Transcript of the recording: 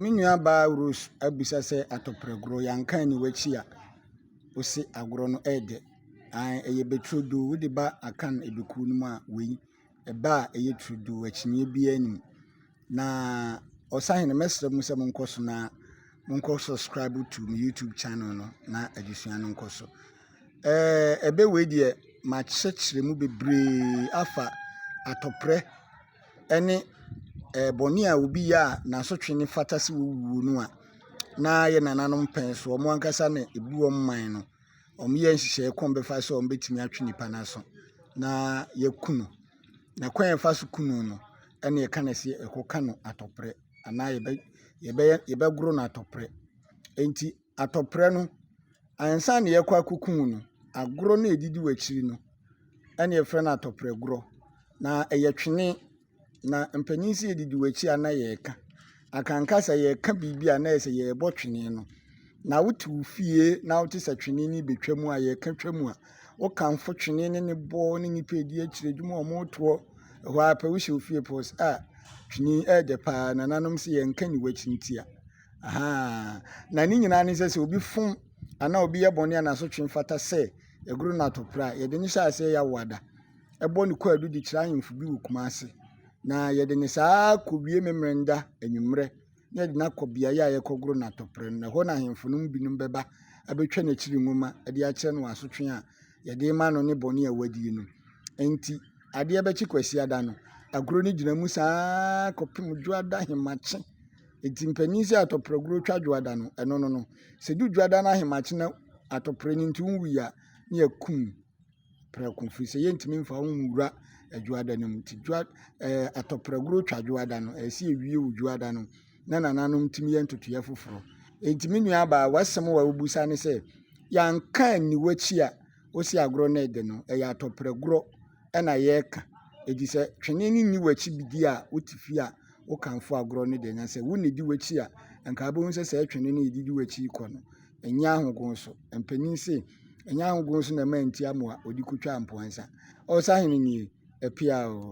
Me nua baa Rose abisa sɛ atɔprɛ gorɔ yɛ anka ɛni wakyi a ose agorɔ no ɛyɛ dɛ ae ɛyɛ bɛ turodoo wode ba akan ɛbɛkuo no mu a wei ɛbɛ a ɛyɛ turodoo akyinyeɛ biara nim na ɔsahene mɛsrɛ mu sɛ mo nkɔ so na mo nkɔ subscribe to me YouTube channel no na adesua no nkɔ so ɛɛ ɛbɛ wei deɛ makyekyere mu bebree afa atɔprɛ ne bɔne a obi yɛ a n'asotwe no fata sɛ owuo no a, na yɛ nananom pɛn so, wɔn ankasa na ɛbu wɔn man no, wɔyɛ nhyehyɛeɛ kwan a wɔbɛfa so a wɔbɛtumi atwe nipa no aso na wɔakum no. Na kwan a wɔfa so kum no no, ɛnna wɔka no sɛ wɔkɔka no atɔprɛ anaa yɛbɛ yɛbɛyɛ yɛbɛgoro no atɔprɛ. Enti. atɔprɛ no, ansa na yɛkɔ akɔku wo no, agorɔ no a ɛdidi w'akyiri no na yɛfrɛ no atɔprɛ gorɔ. Na ɛyɛ twene, na mpanin sɛ yɛdidi w'akyi a na yɛreka. Akanka sɛ yɛreka biribi a na ayɛ sɛ yɛrebɔ twene no. Na wote wo fie na wote sɛ twene no rebɛtwa mu a, yɛreka twa mu a, wokamfo twene no ne bɔ ne nnipa ɛdi akyire adwuma a wɔretoɔ hɔ ara pɛ wohyɛ wo fie pɛ wɔ sɛ ah twene ɛyɛ dɛ paa nananom se yɛnka nni w'akyi ntia. Ahaa, na ne nyinaa ne sɛ, sɛ obi fom anaa obi yɛ bɔne a n'asotwe mfata sɛ aguru no atopere a, yɛde no hyɛ aseɛ yɛ awoada bɔ no kwaadu de kyerɛ ahemfo bi wɔ Kumase. Na yɛde no saa kɔwie Memmerenda anwummerɛ na yɛde no akɔ beaeɛ a yɛkɔgoro no atopere no. Na ɛhɔ na ahemfo no mu binom bɛba abɛtwa n'akyiri nwoma de akyerɛ no asotwe a yɛde ma no ne bɔne a wadie no. Enti adeɛ bɛkye Kwasiada no, aguro no gyina mu saa kɔpem Dwoada Hemakye Ntsi mpanyin sɛ atɔpraguro twa dwoada no, ɛno no no. Sɛ du dwoada no ahemakye na atɔprɛ no nti wonwui a, ne yɛakum no prɛko firi sɛ yɛntumi mfa wo nwura dwoada no mu. Nti dwoa ɛɛ atɔpraguro twa dwoada no, ɛsɛ sɛ yɛwie wo dwoada no na nananom tumi yɛ ntotoeɛ foforɔ. Enti me nua abaa w'asɛm wa wobusa ne sɛ yɛanka anni w'akyi a wose agorɔ no ɛde no ɛyɛ atɔpragorɔ na yɛreka. Enti sɛ twene no nni w'akyi di a, wote fie a, wokamfo agorɔ no deɛ, na sɛ wo na ɛdi w'akyi a, anka wobɛhu sɛ saa twene no a ɛde di w'akyi rekɔ no, ɛnyɛ ahogo so. Mpanin se, ɛnyɛ ahogo so na ɛma nti amoa wɔde kɔtwa mpoansa. Ɔsahene nie, ɛpea oo.